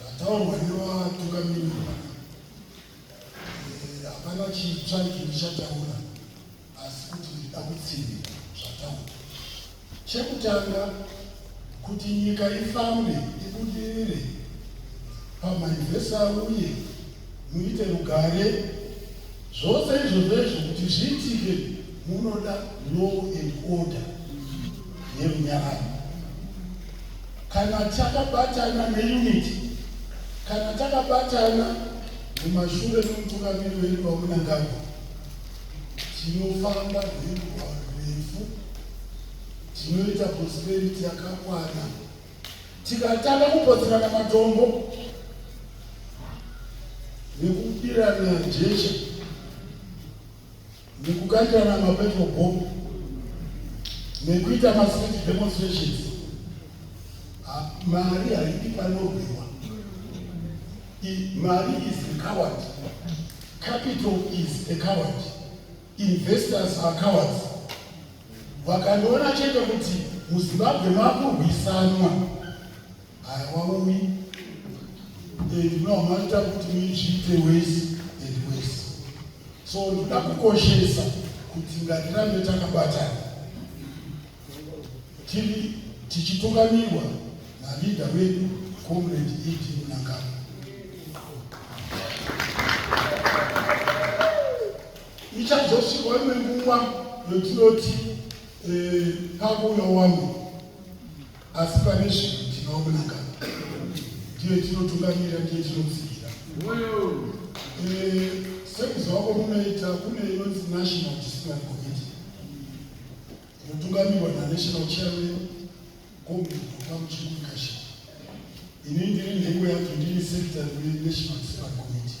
Zvataurwa nevatungamiri eh, hapana chitsva icho ndichataura asi kuti ndida kutsinda zvataura. Chekutanga kuti nyika ifambe ibudirire pamainvesa uye Muite rugare. Zvose izvozvo izvo kuti zviitike munoda law and order nerunyararo. Kana takabatana neunity, kana takabatana mumashure memutungamiri wedu waMunangagwa, tinofamba rwendo rwarefu, tinoita prosperity yakakwana. Tikatanga kupotsirana matombo nekubirana jecha nekukandirana mapetrol bomb nekuita mastreet demonstrations mari haidi panorwiwa mari is a coward capital is a coward Investors are cowards. Vakandiona chete kuti muZimbabwe makurwisanwa hawauyi and no maita kuti muizviite wese and wese. So ndoda kukoshesa kuti ngatirambe takabatana tiri tichitungamirwa nalida wedu comrade ed munangano Ichazosvikawo imwe nguva yotinoti eh, pakuuya wamwe, asi pane sviko tinowa kunaka, ndiye tinotungamira, ndiye tinomusigira. Eh, Sekuzova kwamunoita kune inonzi National Discipline Committee inotungamirwa naNational Chairman Comrade Mukamuchiri Mukasha. Ini ndiri nhengo yacho, ndiri secretary weNational Discipline Committee.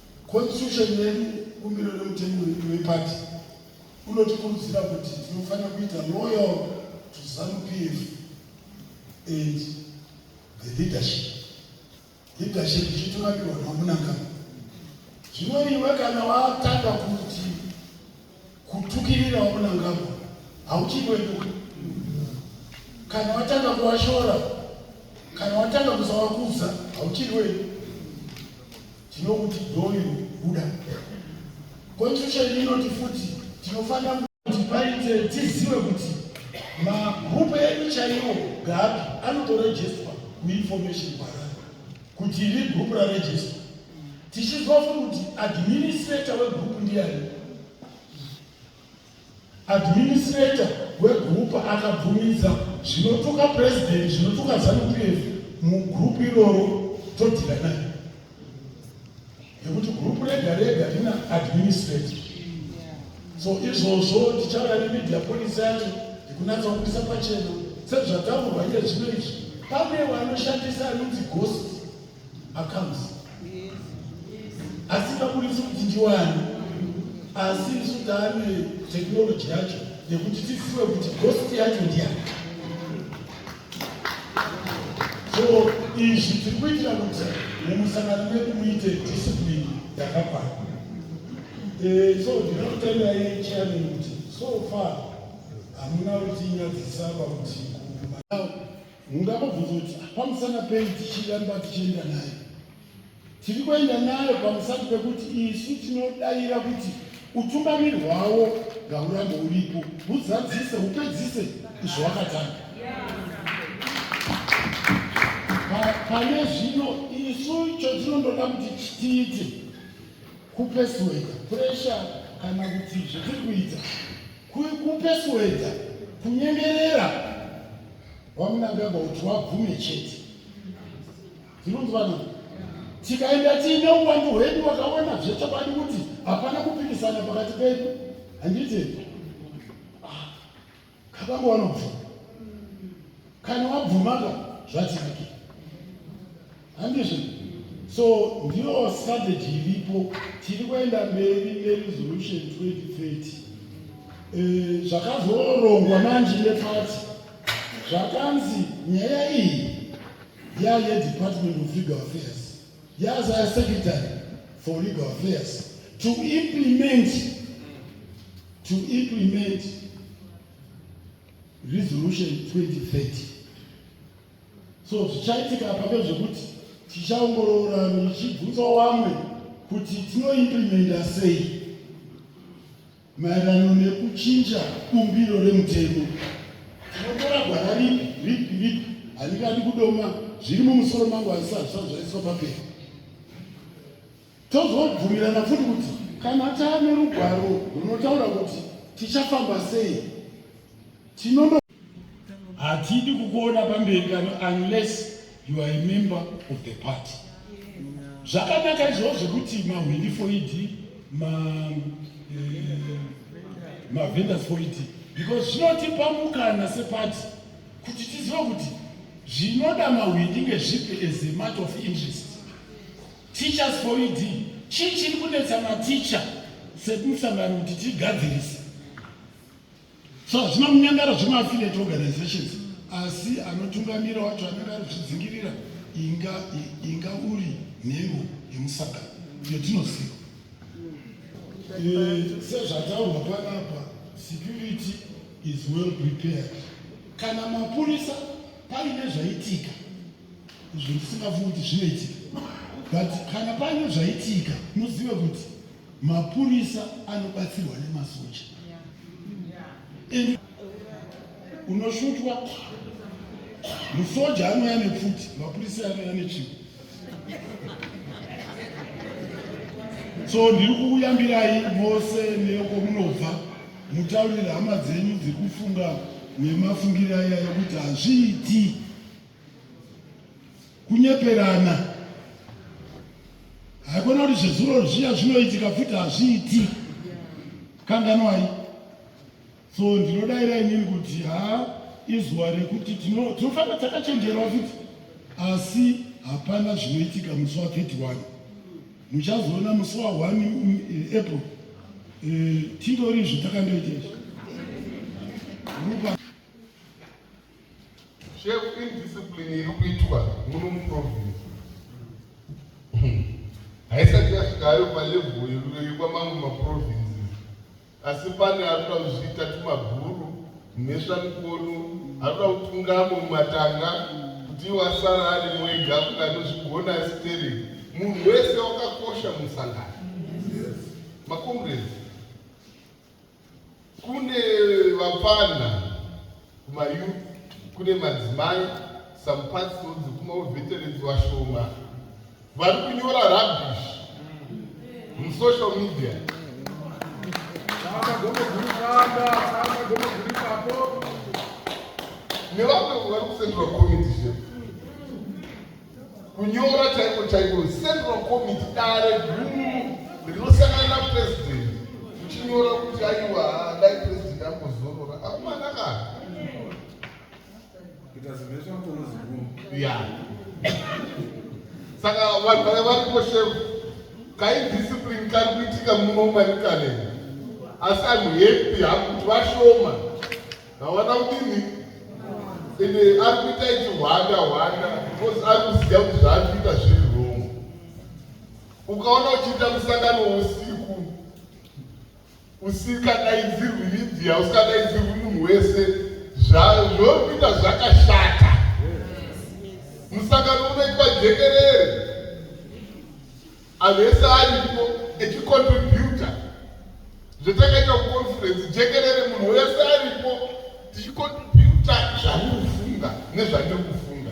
Constitution yedu bumbiro remutemo wedu wepati unotikurudzira kuti tinofanira kuita loyal to zanu pf and the leadership leadership ichitunakirwa namunangano zvino iwe kana watanga kuti Kutukirira wamunangagwa hauchikweduka kana watanga kuwashora kana watanga kuzawakudza hauchiri wedu tinokuti doyo buda constitution inoti futi tinofanira kuti paite tizive kuti magrupu edu chaiwo gapi anotorejestwa kuinformation parana kuti iri group raregister tichizwa futi kuti administrator wegroup ndiyani administrator wegroup akabvumidza zvinotuka president zvinotuka zanupf mugroup iroro todhira naye yekuti group rega rega rina administrator so izvozvo tichauya nemedia policy yacho yekunatsa kupisa pachena sezvataurwa iye zvino izvi pane vanoshandisa anonzi ghost accounts asi kaburitsi kuti ndiwani asi isu taane teknoloji yacho yekuti tizive kuti ghost yacho ndiyani so izvi tiri kuitira kuti mumusangano medu muite discipline yakakwana eh, so ndinotendai chairman kuti so far hamuna kuti nyadzisa pakuti mungava bvunza kuti pamusana pei tichiramba tichienda naye tiri kuenda nayo pamusati pekuti isu tinodaira kuti utungamiri hwawo ngaurambe uripo huzadzise hupedzise izvo wakatanga pane zvino isu chotinondoda kuti tiite kupesweda presha kana kuti zvatiri kuita kupesweda kunyengerera wamunangagwa kuti wabvume chete Tinonzwa nani? Tikaenda tiine uwandu hwedu wakaona zvechokwadi kuti hapana kupikisana pakati pedu. Handiti? Ah, kapangu wanobvuma. Kana wabvumaka zvatinake. Handizvo? So ndiyo strategy iripo tiri kuenda mberi neresolution 2030. Eh, zvakazorongwa manje nepati zvakanzi nyaya iyi Yaa ye Department of Legal Affairs yazaya secretary for legal affairs to implement to implement resolution 2030 so zvichaitika pake zvekuti tichaongorora ndichibvunza wamwe kuti tinoimplementa sei Maererano nekuchinja bumbiro remutemo, tinotora gwara ripi ripi ripi, handingadi kudoma zviri mumusoro mangu hazvisati zvisati zvaiswa papera. Tozobvumirana futi kuti kana taane rugwaro runotaura kuti tichafamba sei tinono hatidi kukuona pamberi pano unless you are a member of the party zvakanaka izvoo zvekuti mahwindi foidi mavendors eh, foidi because zvinotipa mukana sepati kuti tizive kuti zvinoda mahwindi ngezvipi as a matter of interest teachers foidi chii chiri kunetsa maticha semusangano kuti tigadzirise so hazvina kunyangara zvemaaffiliate organizations asi anotungamira wacho anenge ari kuzvidzingirira inga inga uri nhengo yemusangano iyo tinoziva eh, sezvataurwa panapa security is well prepared kana mapurisa paine zvaitika izvo ndisingafungi kuti zvinoitika but kana paine zvaitika muzive kuti Mapurisa anobatsirwa nemasoja and unoshutwa musoja anouya nepfuti mapurisa anouya nechimwe so ndiri kukuyambirai mose neko munobva mutaurire hama dzenyu dziri kufunga nemafungiro aya yekuti hazviiti kunyeperana haikona kuti zvezuro zviya zvinoitika futi hazviiti kanganwai so ndinodaira inini kuti ha izuva rekuti tinofanira takachenjerwa futi asi hapana zvinoitika musi wa 31 muchazoona musi wa 1 eh, april eh, titori izvo takandoita izvi Chef indiscipline iri kuitwa muno muprovince haisati yasvikayo palevel yekuyoyikwa mamwe maprovinces asi pane ari kuda kuzviita tumabhuru mhesva mikono ari kuda kutungamo mumatanga kuti iwo asara ari mwega kuti anozvigona asiteri munhu wese wakakosha musangano makomresi Kune vapfanha kumayouth, kune madzimai, some pastors, kumaveterans vashoma vari kunyora rubbish musocial media. Nevamwe vari kusenderwa committee kunyora chaiko chaiko central committee dare guru rinosangana napresident uchinyora kuti aiwa dai president angozorora akumana ka ya saka vanhu vaya varipo shef kaidiscipline kari kuitika muno marikale asi anhu hepi hakuti vashoma Mawana kudini? Ende ari kuita ichihwanda hwanda because ari kuziva kuti zvaari kuita zviri wrong. Ukaona uchiita musangano usiku usikadaidzirwi media usikadaidzirwi munhu wese zvori kuita zvakashata. Musangano unoitwa jekerere. Anhu ese aripo echicontributa zvetakaita kuconference jekerere munhu wese aripo tichicontributa zvamukufunga nezvatiri kufunga